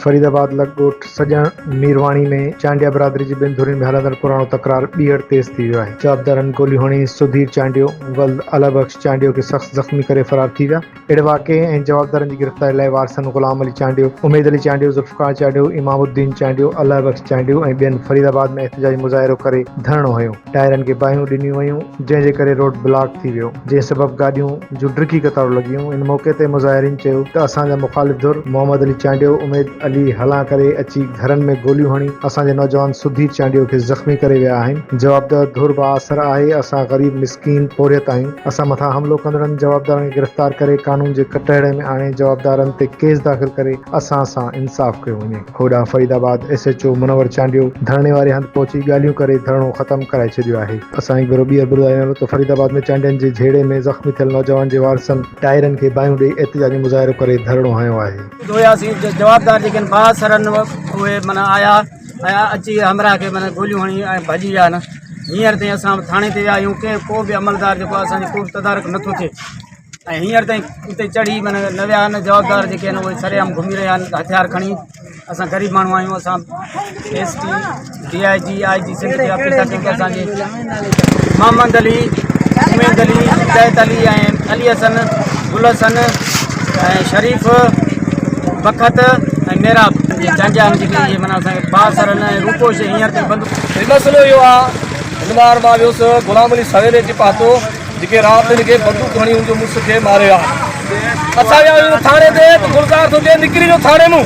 فريد آباد لڳ ڳوٺ سڄڻ ميرواڻي ۾ چانڊيا برادري جي ٻن ڌرين ۾ هلندڙ پراڻو تڪرار ٻيهر تيز ٿي ويو آهي، جوابدارن گوليون هڻي سڌير چانڊيو ولد الهه بخش چانڊيو کي سخت زخمي ڪري فرار ٿي ويا. اهڙي واقعي ۽ جوابدارن جي گرفتاري لاء وارثن غلام علي چانڊيو، اميد علي چانڊيو، ذوالفقار چانڊيو، امام الدين چانڊيو، الله بخش چانڊيو ۽ ٻين فريد آباد ۾ احتجاجي مظاهرو ڪري ڌرڻو هنيو، ٽائرن کي باهيون ڏنيون ويون جنهن جي ڪري روڊ بلاڪ ٿي ويو جنهن سبب گاڏيون جون ڊگهي قطارون لڳيون، ان موقعي تي مظاهرين چيو ته اسان جا مخالف ڌر محمد علي چانڊيو، اميد علي هلان ڪري اچي گهرن ۾ گوليون هڻي اسان جي نوجوان سڌير چانڊيو کي زخمي ڪري ويا آهن، جوابدار ڌر بااثر آهي، اسان غريب تين پورهيت تائين اسان مٿان حملو ڪندڙن جوابدارن کي گرفتار ڪري قانون جي ڪٽهڙي ۾ آڻي جوابدارن تي ڪيس داخل ڪري اسان سان انصاف ڪيو وڃي. هوڏانهن Faridabad S H O Munawar Chandio ڌرڻي واري هنڌ پهچي ڳالهيون ڪري ڌرڻو ختم ڪرائي ڇڏيو آهي. اسان هڪ ڀيرو ٻيهر ٻڌايون ته فريد آباد ۾ چانڊين جي جهيڙي ۾ زخمي ٿيل نوجوان جي وارثن ٽائرن کي باهيون ڏئي احتجاجي مظاهرو ڪري ڌرڻو هنيو آهي. جوياسين جوابدار جيڪي آهن بااثر آهن اهي معنيٰ آيا. اچي همراهه کي معنيٰ گوليون هڻي ۽ ڀڄي ويا آهن هينئر تائين اسان ٿاڻي تي ويا آهيون ڪنهن ڪو به عملدار جيڪو آهي اسانجو ڪوبه تدارڪ نٿو ٿئي ۽ هينئر تائين اتي چڙهي معنيٰ نه ويا آهن جوابدار جيڪي آهن اهي سري عام گهمي رهيا آهن هٿيار کڻي اسان غريب ماڻهو آهيون اسان S T D I G I G Sindh جي آفيسر جيڪي اسانجي محمد علي، اميد علي، هدايت علي ۽ علي حسن، گل حسن ۽ شريف بخت ۽ ميراب جي جانجهان جي جي معنيٰ اسان کي بااثر هن ۽ روپو شيء هينئر تائين بند هي مسئلو اهو آ هن مار مان ويس غلام علي سويري جي پاتو جيڪي رات هن کي بندوق هڻي هن جو مڙس کي ماري آ اسان ويا ٿاڻي تي ته گلزار ٿو چئي نڪري جو ٿاڻي مون